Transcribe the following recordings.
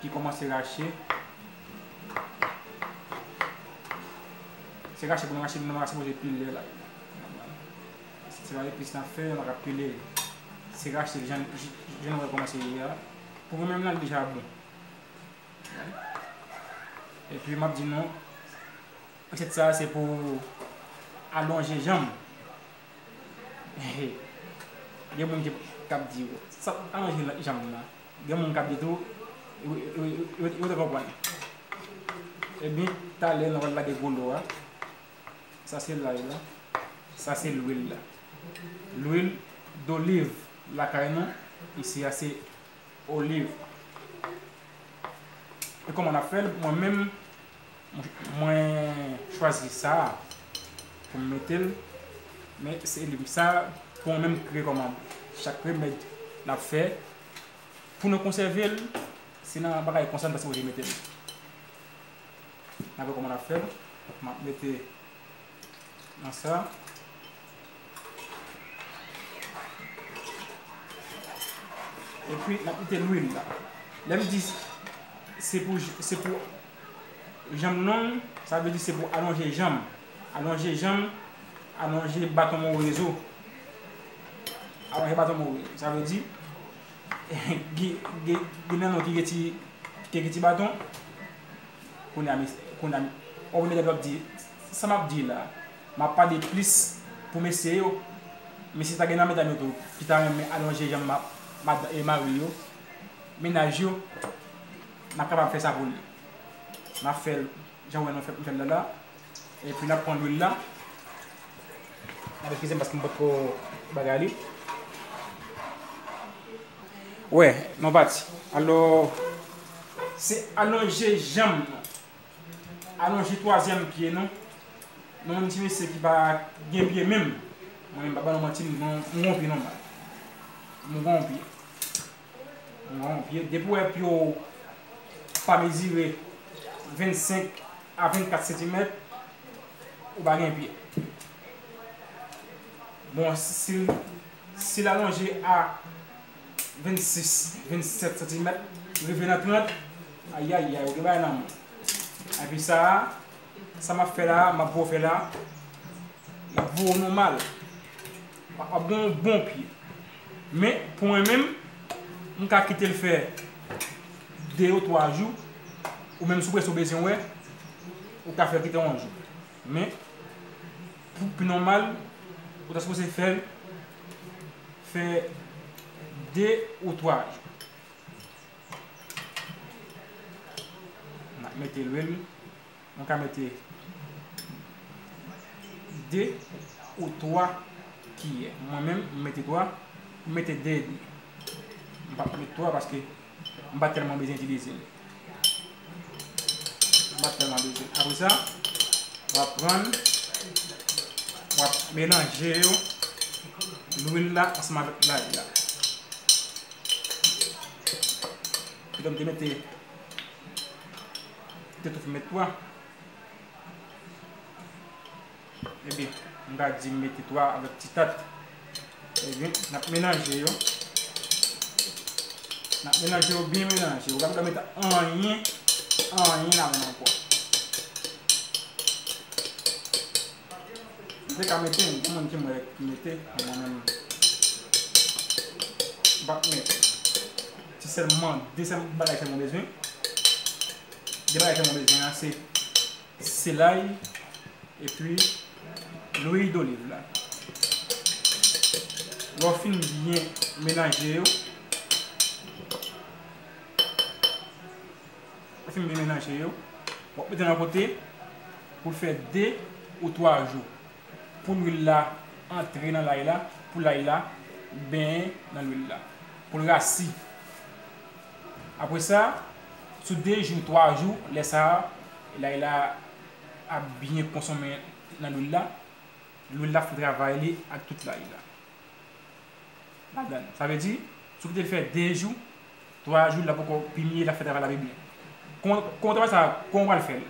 ki komanse rache. Se rache pou nou rache li nan pa sipoze pile la. Se pa epis nan fè, nan pa ka pile li. Se rache li jan nou wè l komanse ye a. Pou mwen menm la li deja bon. E pi m ap di nou, resèt sa a se pou alonje janm. Gen moun kap di yo sa pap ka manje janm nan gen moun kap di tou yo te konprann ebyen talè nou pral lage gwo lo a sa se lay la sa se lwil la lwil doliv lakay nou isi a se oliv e kòman nap fèl mwen menm Mwen chwazi sa poum metel men se li sa pou mwen menm ki rekomande chak remed nap fè pou nou konsèvel se nan bagay konsa nou ta sipoze metel nap wè kòman nap fèl map mete nan sa epi nap mete lwil la lèm di se pou Janm long, sa vle di se pou alonje janm. Alonje janm, alonje baton mwen wè zo. Alonje baton mwen wè. Sa vle di, gen nan nou ki gen ti, ki gen ti baton, kounye a, kounye a, wap wè medam yo ap di, sa map di la, map pale plis pou mesye yo, men si ta gen nan medam yo tou ki ta renmen alonje janm mari yo, mennaj yo. Nap kapab fè sa pou li. Nap fèl jan ou wè nou fè fèl la la. Epi nap pran lwil la. Nap eskizem paske m pot ko bagay li. Wè nou pati. Alo se alonje janm nou. Alonje twazyèm pye nou. Nou menm ti mesye ki pa gen pye menm. Mwen menm pa ba nou manti m gonpi nòmal. M gonpi. Non, vye, depi w wè pye w pa mezire 25 a 24 santimèt, ou pa gen pye. Bon, si l alonje a 26, 27 santimèt, rive nan 30, ayayay, ou gen bagay nan men w. Epi sa a, sa m ap fè la a, m ap bo fè la a, l ap bo w nòmal. Wap gen yon bon pye. Men pou mwen menm, m ka kitel fè 2 ou 3 jou, ou menm sou prese ou bezwen wè, ou ka fèl kite yon jou. Men pou pi nòmal, ou ta sipoze fèl fè 2 ou 3 jou. Nap mete lwil. Mwen ka mete 2 ou 3 kiyè. Mwen menm m mete 3. M mete 2 edmi. M pa p met 3 paske m pa tèlman bezwen itilize l. M pa tèlman bezwen. Apre sa, w ap pran, w ap melanje yo, lwil la ansanm avèk lay la. Kidonk m te mete. Mte tou fin met pwa. Ebyen, m ta di m mete pwa avèk ti tat. Ebyen, n ap melanje yo. N ap melanje yo, byen melanje. Ou pa bzwen mete anyen, anyen ladann ankò. Ou te ka mete, gen moun ki m wè ki mete, men mwen menm m pap mete. Se sèlman 2 sèl bagay sèlman mwen bezwen. 2 bagay sèlman mwen bezwen an se selay epi lwil doliv la. Lè w fin byen melanje yo, lè w fin byen melanje yo, w ap mete nan kote pou l fè 2 ou 3 jou. Pou lwil la antre nan lay la, pou lay la benyen nan lwil la, pou l rasi. Apre sa, sou 2 jou, 3 jou, lè sa a lay la ap byen konsonmen nan lwil la, lwil la ap fè travay li ak tout lay la ladan l. Sa vle di, si w te fè 2 jou, 3 jou la poko pini lap fè travay la pi byen kouman travay sa kouman pral fèl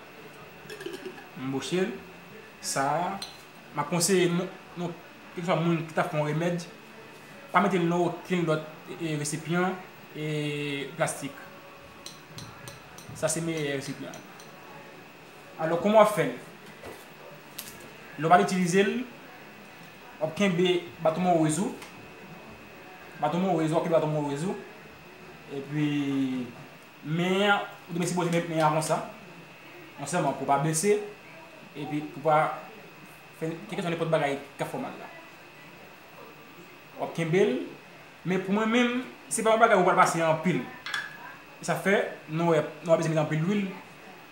m bochel sa map konseye nou keswa moun ki tap fè yon remèd pa metel nan okenn lòt resipyan plastik sa se meyè resipyan. Alò kòman wap fèl? Lè w pral itilize l, wap kenbe baton morez ou, baton morez ou, wap kenbe baton morez ou, epi men an, ou te sipoze met men an konsa, non sèlman pou w pa blese, epi pou w pa fè kèlkeswa nenpòt bagay kap fè w mal la. Wap kenbe l, men pou mwen menm, se pa yon bagay ou pral pase anpil, sa fè nou wè nou pa bezwen met anpil lwil.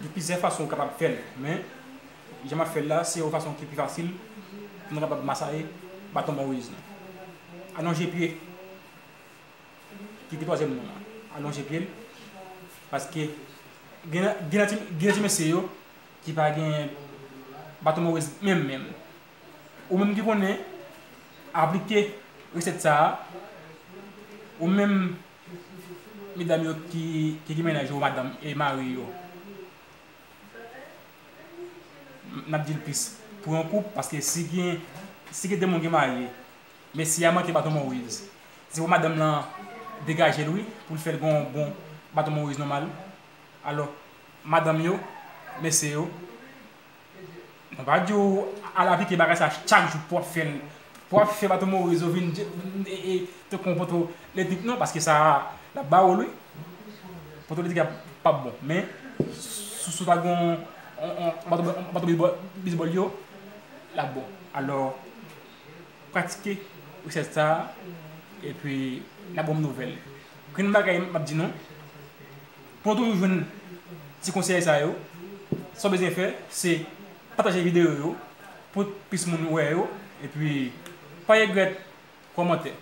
Gen plizyè fason ou kapab fèl men jan map fèl la se yon fason ki pi fasil pou nou kapab masaye baton Moyiz nou. Alonje pye ki pi twazyèm moun nan alonje pyel paske gen gen ti mesye yo ki pa gen baton Moyiz menm menm. Ou menm ki konnen aplike resèt sa ou menm. Medam yo ki gen mennaj yo madanm e mari yo nap dil plis pou yon koup paske si gen si gen 2 moun ki marye mesye a manke baton moriz se pou madanm lan degajel wi poul fèl gen yon bon baton moriz nòmal alò madanm yo mesye yo Mwen pa diw al aplike bagay sa chak jou pou wap fèl pou wap fè bato morizo vin e te kon poto letrik non paske sa lap ba ou lwi poto letrik la pap bon men sou sou ta gon bato bizbòl yo lap bon alò pratike resèt sa epi nap banm nouvèl grenn bagay map di nou Pou toujou jwenn ti konsèy sa yo, sa w bezwen fè se pataje videyo yo pou plis moun wè yo epi pa regrèt kòmante,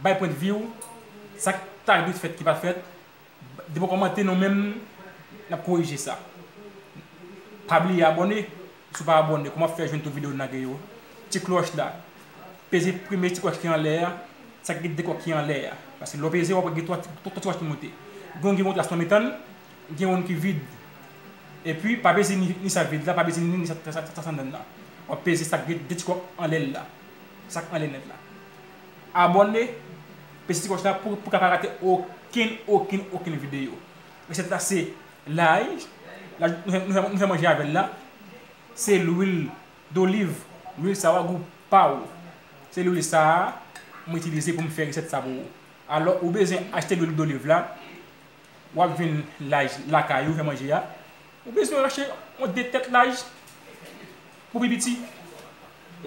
bay pwendvi w, sa k ta dwe fèt ki pa fèt, depi w kòmante nou menm n ap korije sa. Pa bliye abòne! Si w pa abòne kòman w ap fè jwenn tout video n lage yo? Ti klòch la, peze premye ti klòch ki anlè a, sa ki gen 2 kò ki anlè a. Paske lè w peze wap wè gen 3 ti klòch ki moute. Gen youn ki gen yon tras nan mitan l, gen youn ki vid. Epi pa peze ni sa vid la, pa peze ni sa tras anndan l la. Wap peze sa ki gen 2 ti kò anlè l la. Sa k anlè nèt la. Abòne, peze ti klòch la pou w ka pa rate okenn okenn okenn video. Resèt la se. Lay, nou fè manje avèl la, se lwil doliv, lwil sa wa gou pa ou. Se lwil sa a mwen itilize pou m fè resèt sa pou ou. Alò ou bezwen achte lwil doliv la, w ap jwenn lay lakay ou fè manje a. Ou bezwen achte yon 2 tèt lay pou pi piti,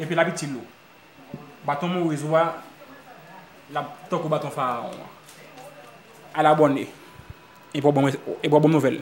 epi l ap itil ou. Baton Moise ou a lap tankou baton Faraon an. Al abòne epi wap banm nouvèl.